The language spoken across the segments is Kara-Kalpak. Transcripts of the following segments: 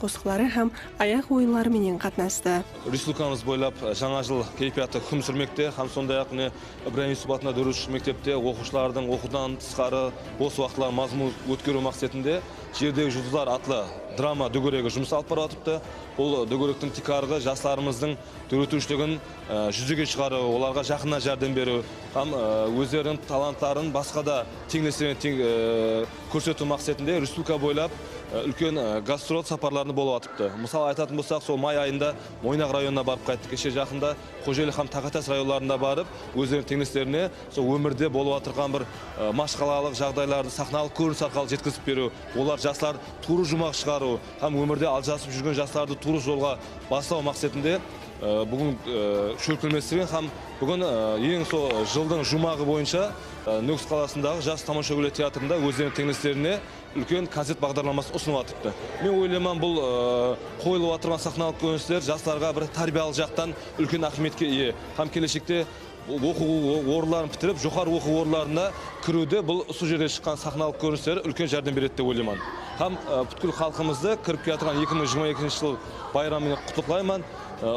qosıqları hám ayaq oyınları menen qatnastı. Respublikamız boylap Jańa jıl keypiyatı húkim súrmekte hám sonday-aq mine Ibrayım Yusup atında dóret úsh mektepte oqıwshılardıń oqıwdan tısqarı bos waqıtların mazmunlı ótkeriw maqsetinde Jerdegi juldızlar atlı drama dógeregi jumıs alıp barıp atırıptı. Bul dógerektiń tiykarǵı jaslarımızdıń dóretiwshiligin júzege shıǵarıw, olarǵa jaqınnan járdem beriw hám ózleriniń talantların basqa da teńleslerine kórsetiw maqsetinde respublika boylap úlken gastrol saparlarında bolıp atıptı. Mısal aytатын bolsaq, sol may ayında Moynaq rayonına barıp qayttı, keshe jaqında Xojeli hám Taqatas rayonlarında barıp, ózleriniń teńleslerine sol ómirde bolıp atırǵan bir mashqalalıq jaǵdaylardı saxnalıq kórinis arqalı jetkizip beriw, olar jaslar tuwrı juwmaq shıǵarıw hám ómirde aljasıp júrgen jaslardı tuwrı jolǵa baslaw maqsetinde búgin shólkemlestirgen hám búgin eń sol jıldıń juwmaǵı boyınsha Nókis qalasındaǵı Jas tamashagúler teatrında ózleriniń teńleslerine úlken konsert baǵdarlaması usınıp atırıptı. Men oylayman bul qoyılıp atırǵan saxnalıq kórinisler jaslarǵa bir tárbiyalıq jaqtan úlken áhmiyetke iye hám keleshekte oqıw orınların pitirip joqarı oqıw orınlarına kiriwde bul usı jerde shıqqan saxnalıq kórinisleri úlken járdem beredi dep oylayman hám pútkil xalqımızdı kirip kiyatırǵan eki mıń jigirma ekinshi jıl bayramı menen qutlıqlayman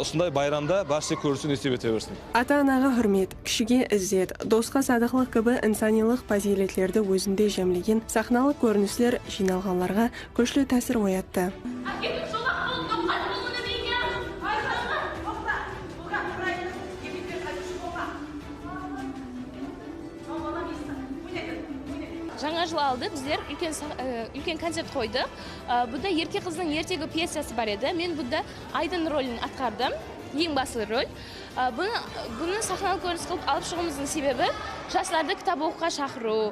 usınday bayramda bárshe kórisu nesip ete bersin. Ata-anaǵa húrmet, Kishige izzet, dosqa sadıqlıq kibi insanıylıq pazıyletlerdi ózinde jámlegen saxnalıq kórinisler jıynalǵanlarǵa kúshli tásir oyattı. Jańa jıl aldı bizler úlken koncert qoydıq. Bunda Erke qızdıń ertegi pyesası bar edi. Men bunda Aydın rolin atqardım, eń baslı rol. Bunı saxnalıq kórinis qılıp alıp shıǵıwımızdıń sebebi, jaslardı kitap oqıwǵa shaqırıw,